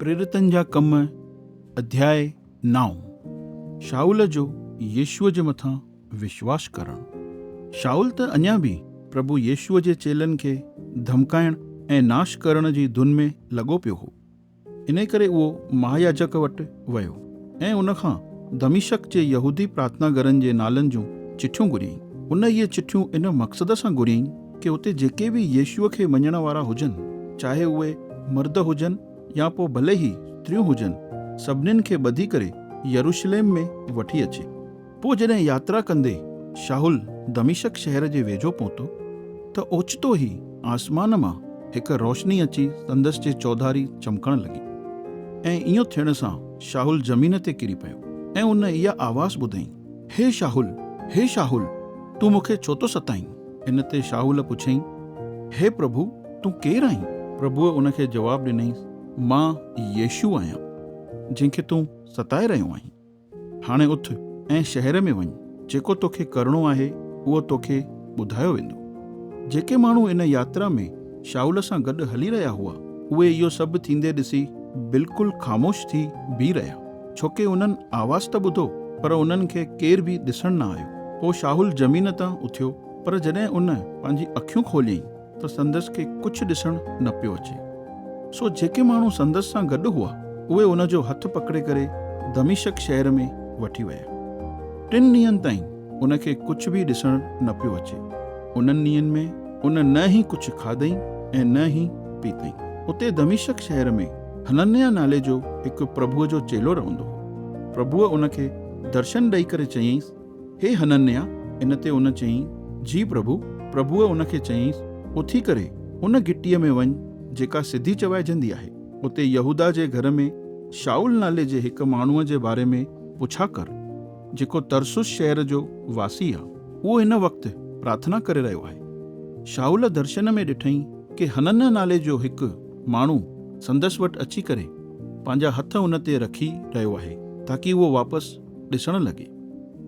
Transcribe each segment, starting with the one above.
پريرتن جا ڪم، اڌياء نائون، شائول جو يسوع جي مٿان وشواس ڪرڻ، شائول ته اڃا به پرڀو يسوع جي چيلن کي ڌمڪائڻ ۽ ناش ڪرڻ جي ڌن ۾ لڳو پيو هو، انهيء ڪري اهو مهاياجڪ وٽ ويو ۽ ان کان دمشق جي يهودي پرارٿنا گهرن جي نالن جون چٺيون گهريائين. ان اهي چٺيون ان مقصد سان گهريائين ڪي اتي جيڪي به يسوع کي مڃڻ وارا هجن، چاهي اهي مرد هجن يا پوء ڀلي ئي استريون هجن، سڀنين کي ٻڌي ڪري يروشليم ۾ وٺي اچي. پوء جڏهن ياترا ڪندي شاهول دمشق شهر جي ويجهو پهتو ته اوچتو ئي آسمان مان هڪ روشني اچي سندس جي چوڌاري چمڪڻ لڳي ۽ ايئن ٿيڻ سان شاهول زمين تي ڪري پيو ۽ ان اها آواز ٻڌائين، هي شاهول، هي شاهول، تون مون کي ڇو ٿو ستائين؟ ان تي شاهول پڇيائين، هي پرڀو، تون ڪير آهين؟ پرڀوء ان کي جواب ڏنائين، مان يشوع آهيان، جنهن کي تون ستائي رهيو آهين. هاڻي اٿ ۽ شهر ۾ وڃ، جيڪو توکي ڪرڻو آهي، اهو توکي ٻڌايو ويندو. جيڪي ماڻهو ان ياترا ۾ شائول سان گڏ هلي رهيا هئا، اهي اهو سڀ ٿيندي ڏسي بلڪل خاموش ٿي بيهي رهيا، ڇوڪه انهن آواز ته ٻڌو، پر انهن کي ڪير به ڏسڻ نه آيو. پوء شائول زمين تان اٿيو، پر جڏهن ان پنهنجي اکيون کوليائين، ته سندس کي ڪڇ ڏسڻ نه پيو اچي، سو جيڪي ماڻهو سندس سان گڏ هئا، اهي ان جو هٿ پڪڙي ڪري دمشق شهر ۾ وٺي ويا. ٽن ڏينهن تائين ان کي ڪڇ به ڏسڻ نه پيو اچي. انهن ڏينهن ۾ ان نه ئي ڪڇ کاڌئين ۽ نه ئي پيتئين. اتي دمشق شهر ۾ حننيا نالي جو هڪ پرڀوء جو چيلو رهندو هو. پرڀوء ان کي درشن ڏئي ڪري چيائينس، هي حننيا! ان تي ان چيائين، جي پرڀو! پرڀوء ان کي چيائينس، اٿي ڪري ان گهٽيء ۾ وڃ، جيڪا سڌي چوائجندي آهي. اتي يهوداه جي گهر ۾ شائول نالي جي هڪ ماڻهوء جي باري ۾ پڇا ڪر، جيڪو ترسوس شهر جو واسي آهي. اهو هن وقت پرارٿنا ڪري رهيو آهي. شائول درشن ۾ ڏٺائين ڪي حننيا نالي جو هڪ ماڻهو سندس وٽ اچي ڪري پنهنجا هٿ ان تي رکي رهيو آهي، تاڪي اهو واپس ڏسڻ لڳي.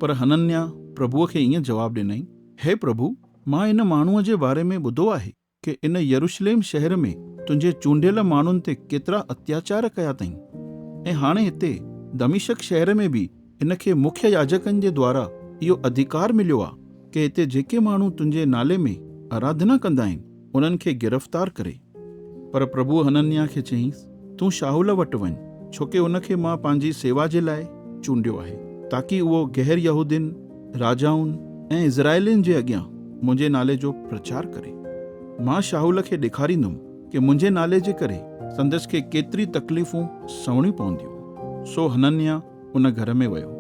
پر حننيا پرڀوء کي ائين جواب ڏنائين، هي پرڀو، مان ان ماڻهوء جي باري ۾ ٻڌو آهي ڪي ان يروشليم شهر ۾ تنهنجي چونڊيل ماڻهن تي ڪيترا اتياچار ڪيا تئين ۽ هاڻي هتي دمشق شهر ۾ به هن کي مکيه ياجڪن جي دوارا اهو اڌڪار مليو آ ڪي هتي جيڪي ماڻهو تنهنجي نالي ۾ آراڌنا ڪندا آهن انهن کي گرفتار ڪري. پر پرڀوء حننياه کي چيائينس، تون شاهول وٽ وڃ، ڇو ڪي ان کي مان پنهنجي سيوا جي لاء چونڊيو آهي، تاڪي اهو غير يهودين، راجائن ۽ اسرائيلين جي اڳيان منهنجي نالي جو پرچار ڪري. مان شاهول کي ڏيکاريندم ڪي منهنجي نالي جي ڪري سندس کي ڪيتري تڪليفون سهڻيون پونديون. سو حننياه ان گهر ۾ ويو.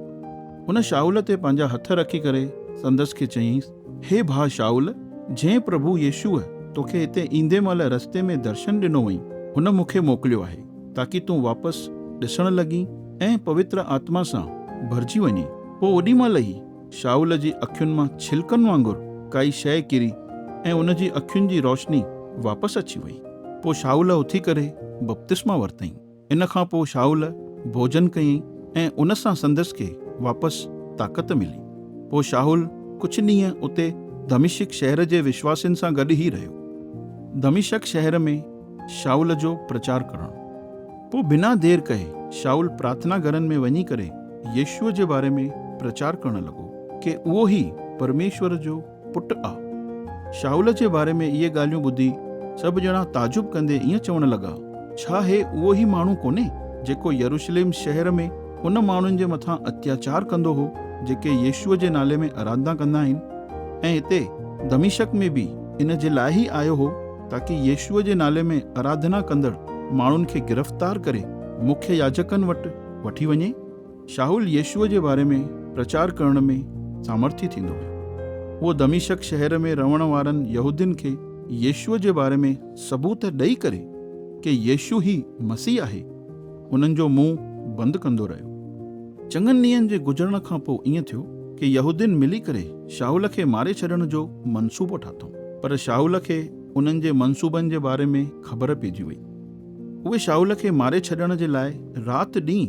هن شائول تي پنهنجا هٿ رکي ڪري سندس کي چيائينس، هي ڀاء شائول، جنهن پرڀو يسوع توکي هتي ايندي مهل رستي ۾ درشن ڏنو هئين، هن مون کي موڪليو آهي، تاڪي تون واپس ڏسڻ لڳين ۽ پوتر آتما سان ڀرجي وڃين. پوء اوڏي مهل ئي شائول جي اکين مان ڇلڪن وانگر ڪائي شيء ڪري ۽ ان جي اکين جي روشني واپس اچي وئي. پوء شائول اٿي ڪري بپتسما ورتائين. ان کان پوء شائول ڀوڄن ڪيئي ۽ ان سان سندس کي واپس طاقت ملي. پوء شائول ڪجهه ڏينهن اتي دمشق شهر جي وشواسين سان گڏ ئي رهيو. دمشق شهر ۾ شائول جو پرچار ڪرڻ. پوء بنا دير ڪئي شائول پرارٿنا گهرن ۾ وڃي ڪري يسوع جي باري ۾ پرچار ڪرڻ لڳو ڪي اهو ئي پرميشور جو پٽ آ. شاهول جي باري ۾ اهي ڳالهيون ٻڌي سڀ ڄڻا تعجب ڪندي ائين چوڻ لڳا، ڇا هي اهو ئي ماڻهو ڪونهي، جيڪو يروشليم شهر ۾ ان ماڻهن جي مٿان اتياچار ڪندو هو، جيڪي يسوع جي نالي ۾ اراڌنا ڪندا آهن؟ ۽ هتي دمشق ۾ به ان جي لاء ئي آيو هو، تاڪي يسوع جي نالي ۾ اراڌنا ڪندڙ ماڻهن کي گرفتار ڪري مکيه ياجڪن وٽ وٺي وڃي. شائول يسوع جي باري ۾ پرچار ڪرڻ ۾ سامرٿي ٿيندو هو. هو دمشق شهر ۾ رهڻ وارن يهودين کي يسوع جي باري ۾ ثبوت ڏئي ڪري ڪي يسوع هي مسيح آهي، انهن جو منهن بند ڪندو رهيو. چڱن ڏينهن جي گذرڻ کان پوء ائين ٿيو ڪي يهودين ملي ڪري شائول کي ماري ڇڏڻ جو منصوبو ٺاٿئون. پر شائول کي انهن جي منصوبن جي باري ۾ خبر پئجي وئي. اهي شائول کي ماري ڇڏڻ جي لاء رات ڏينهن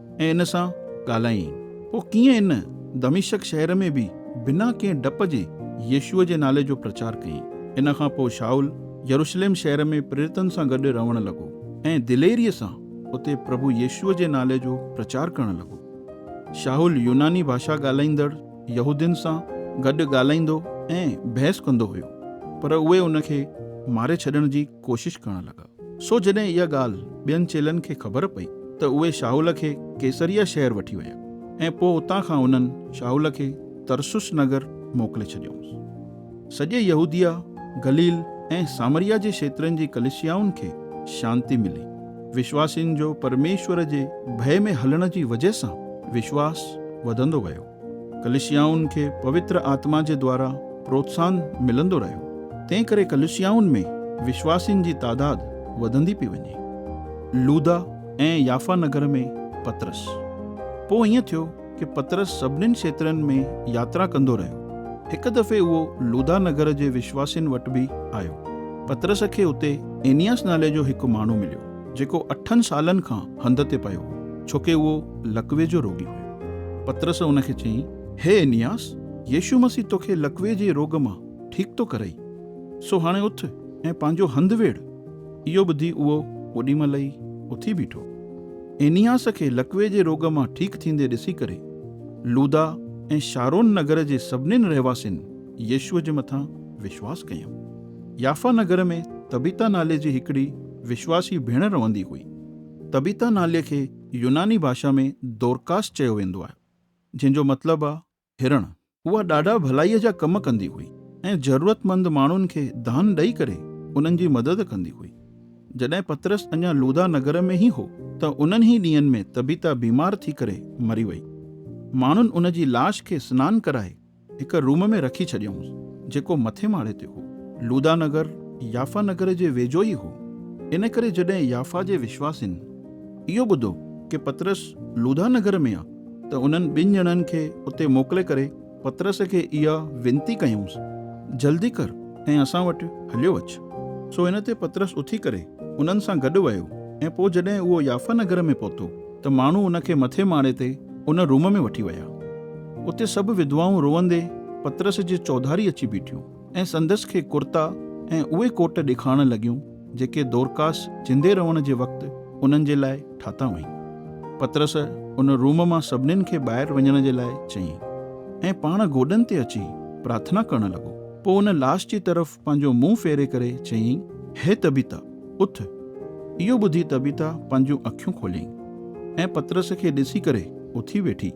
۽ ان سان ڳالهايائين. پوء ڪيئن ان دمشق شهر ۾ به بنا ڪنهن ڊپ جي يسوع جي نالي جو پرچار ڪيائين. ان کان پوء شائول يروشلم شهر ۾ پريرتن سان گڏ رهڻ لڳو ۽ دليريء سان اتي پرڀو يسوع جي نالي جو پرچار ڪرڻ لڳو. شائول يوناني ڀاشا ڳالهائيندڙ يهودين سان گڏ ڳالهائيندو ۽ بحث ڪندو هيو، پر اهي ان کي ماري ڇڏڻ جي ڪوشش ڪرڻ لڳا. سو جڏهن اها ڳالهه ٻين چيلن کي خبر پئي ته اهي شاهول کي قيصريه شهر وٺي ويا ۽ پوء اتان کان انهن شاهول کي ترسس نگر موڪلي ڇڏيائونس. سڄي يهوديه، گليل ۽ سامريه جي کيترن جي ڪليسيائن کي شانتي ملي. وشواسين جو پرميشور جي ڀئي ۾ هلڻ جي وجهه سان وشواس وڌندو ويو. ڪليسيائن کي پوتر آتما جي دوارا پروتساھن ملندو رھيو، تنھن ڪري ڪليسيائن ۾ وشواسين جي تعداد وڌندي پئي وڃي. لودا ۽ يافا نگر ۾ پطرس. پوء ائين ٿيو ڪي پطرس سڀنين شھترن ۾ ياترا ڪندو رھيو. ھڪ دفعي اھو لودا نگر جي وشواسين وٽ به آيو. پطرس کي اتي اينياس نالي جو ھڪ ماڻھو مليو. جيڪو اٺن سالن کان هنڌ تي پيو هو، ڇو ڪي اهو لقوي جو روڳي هيو. پطرس ان کي چيائين، هي انياس، يسوع مسيح توکي لقوي جي روڳ مان ٺيڪ ٿو ڪرئي، سو هاڻي اٿ ۽ پنهنجو هنڌ ويڙهه. اهو ٻڌي اهو اوڏي مهل ئي اٿي بيٺو. انياس کي لقوي جي روڳ مان ٺيڪ ٿيندي ڏسي ڪري، لودا ۽ شارون نگر جي سڀنين رهواسين يسوع جي مٿان وشواس ڪيائون. يافا نگر ۾ تبيتا نالي جي هڪڙي وشواسي ڀيڻ رهندي هئي. تبيتا نالي کي يوناني ڀاشا ۾ دورڪاس چيو ويندو آهي، جنهن جو مطلب آهي هرڻ. اها ڏاڍا ڀلائيء جا ڪم ڪندي هئي ۽ ضرورتمند ماڻهن کي دان ڏئي ڪري انهن جي مدد ڪندي هئي. جڏهن پطرس اڃا لوڌا نگر ۾ ئي هو ته انهن ئي ڏينهن ۾ تبيتا بيمار ٿي ڪري مري وئي. ماڻهن ان جي لاش کي سنان ڪرائي هڪ روم ۾ رکي ڇڏيائونس، جيڪو مٿين ماڙي تي هو. لودا نگر يافا نگر جي ويجهو ئي هو، ان ڪري جڏهن يافا جي وشواسين اهو ٻڌو ڪي پطرس لودا نگر ۾ آ ته انهن ٻن ڄڻن کي اتي موڪلي ڪري پطرس کي اها وينتي ڪيائونس، جلدي ڪر ۽ اسان وٽ هليو اچ. سو ان تي پطرس اٿي ڪري انهن سان گڏ ويو ۽ پوء جڏهن اهو يافا نگر ۾ پهتو، ته ماڻهو ان کي مٿين ماڙي تي ان روم ۾ وٺي ويا. اتي سڀ ودوائون روئندي پطرس جي چوڌاري اچي بيٺيون ۽ سندس کي ڪرتا ۽ اهي ڪوٽ ڏيکارڻ لڳيون جيڪي دورڪاس جندي رهڻ جي وقت انهن جي لاء ٺاتا هئائين. پطرس ان روم مان سڀنين کي ٻاهر وڃڻ جي لاء چيائين ۽ پاڻ گوڏن تي اچي پرارٿنا ڪرڻ لڳو. پوء ان لاش جي طرف پنهنجو منهن ڦيري ڪري چيائين، هي طبيطه، اٿ! اهو ٻڌي طبيطه پنهنجون اکيون کوليائين ۽ پطرس کي ڏسي ڪري اٿي ويٺي.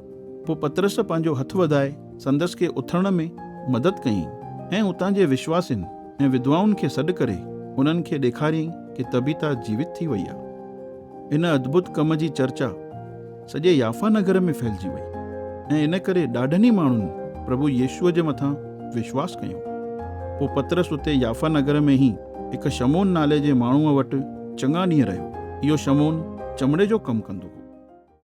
پوء پطرس پنهنجو هٿ وڌائي سندس کي اٿڻ ۾ مدد ڪيائين ۽ اتان جي وشواسين ۽ وڌوائن کي سڏ ڪري انهن کي ڏيکاريائين ڪي طبيطه جيوت ٿي وئي آهي. ان اڌڀت ڪم جي چرچا. سڄي يافا نگر ۾ ڦهلجي وئي ۽ ان ڪري ڏاڍن ئي ماڻهن پرڀو يسوع جي مٿان وشواس ڪيو. پوء پطرس اتي يافا نگر ۾ ئي هڪ شمعون نالي جي ماڻهوء وٽ چڱا ڏينهن رهيو. اهو شمعون چمڙي جو ڪم ڪندو هو.